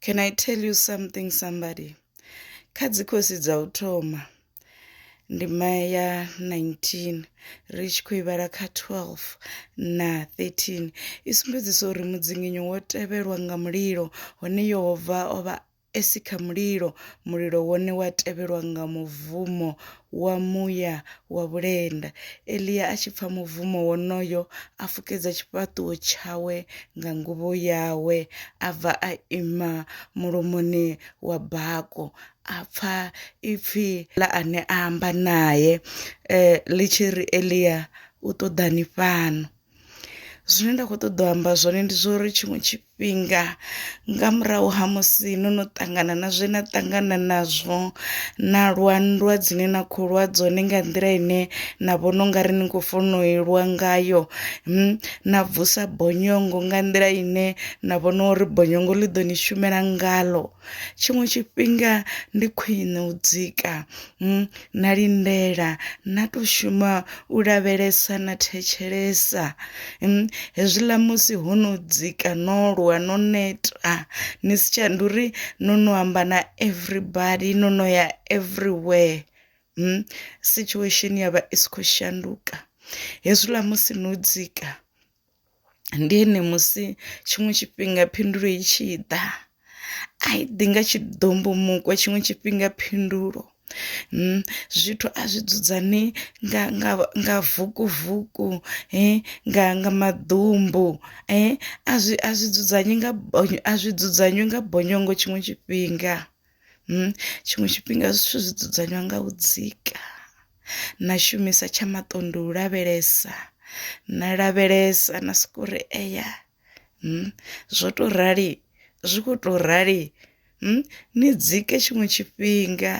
Can I tell you something somebody? Kha dzikhosi dza u thoma ndima ya 19 ri tshi khou ivhala kha 12 na 13 i sumbedzisa uri mudzinginyo wo tevhelwa nga mulilo hone Yehova o vha e si kha mulilo mulilo wone wa tevhelwa nga muvumo wa muya wa vhulenda. Elia a tshi pfa mubvumo wonoyo, a fukedza tshifhaṱuwo tshawe nga nguvho yawe, a bva a ima mulomoni wa bako. A pfa ipfi ḽa ane a amba nae eh, ḽi tshi ri, Elia, u ṱoḓani fhano? zwine nda kho ṱoḓa u amba zwone ndi zwa uri tshiṅwe tshifhinga nga murahu ha musi no no ṱangana na zwe na ṱangana nazwo na lwa nndwa dzine na kho lwa dzone nga nḓila ine na vhona ungari ni kho funa u lwa ngayo na vusa bonyongo nga nḓila ine na vhona uri bonyongo ḽi ḓo ni shumela ngalo. Tshiṅwe tshifhinga ndi khwine u dzika na lindela na to shuma u lavhelesa na thetshelesa hezwiḽa musi ho no dzika no lwa no neta ni si tsha ndi uri no no amba na everybody no no ya everywhere situation ya vha i si kho shanduka hezwiḽa musi no dzika. Ndi ene musi tshiṅwe tshifhinga phindulo i tshi ḓa a i ḓi nga tshiḓombomukwa tshiṅwe tshifhinga phindulo zwithu a zwi dzudzanyei nga nga nga vuku vuku nga nga maḓumbu a zwi a zwi dzudzanyei nga a zwi dzudzanywe nga bonyongo tshiṅwe tshifhinga. hmm, tshiṅwe tshifhinga zwithu zwi dzudzanywa nga u dzika na shumisa tsha maṱondo u lavhelesa na lavhelesa na soko ri eya hmm, zwo to rali zwi kho to rali hmm, ni dzike tshiṅwe tshifhinga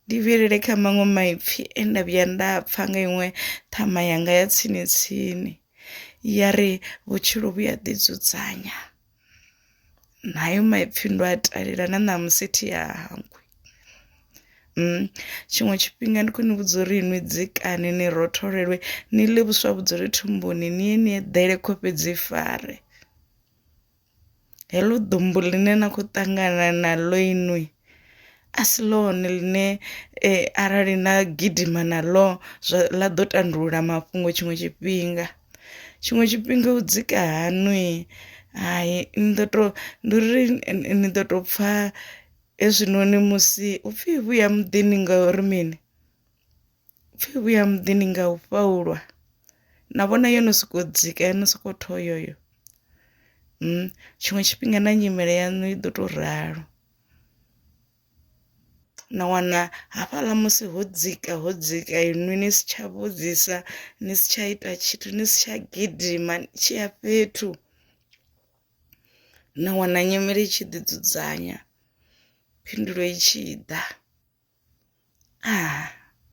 ndi vhilele kha maṅwe maipfi e nda vhuya nda pfha nga iṅwe ṱhama yanga ya tsini tsini ya ri vhutshilo vhu a ḓidzudzanya nayo maipfhi ndo a talela na ṋamusi thi a hangwi Mm. tshiṅwe tshifhinga ndi khou ni vhudza uri inwi dzikani ni rotholelwe ni ḽe vhuswa vhudzule thumbuni ni ye ni eḓele kho fhedzi fare heḽo ḓumbu ḽine na khou ṱangana naḽo inwi a si ḽone ḽine arali na gidima na ḽo zwa ḽa ḓo tandulula mafhungo tshiṅwe tshifhinga. Tshiṅwe tshifhinga u dzika haṋu hai ni ḓo to ndi uri ni ḓo to pfha hezwinoni musi upfhi vhuya muḓini ngauri mini upfhi vhuya muḓini nga u fha u lwa na vhona yo no sokou dzika yo no soko thoyomele tshiṅwe tshifhinga na nyimele yaṋu i ḓo to ralo. na wana hafhaḽa musi ho dzika ho dzika inwi ni si tsha vhudzisa ni si tsha ita tshithu ni si tsha gidima ni tshi ya fhethu na wana nyimele i tshi ḓi dzudzanya phindulo i tshi ḓa ah.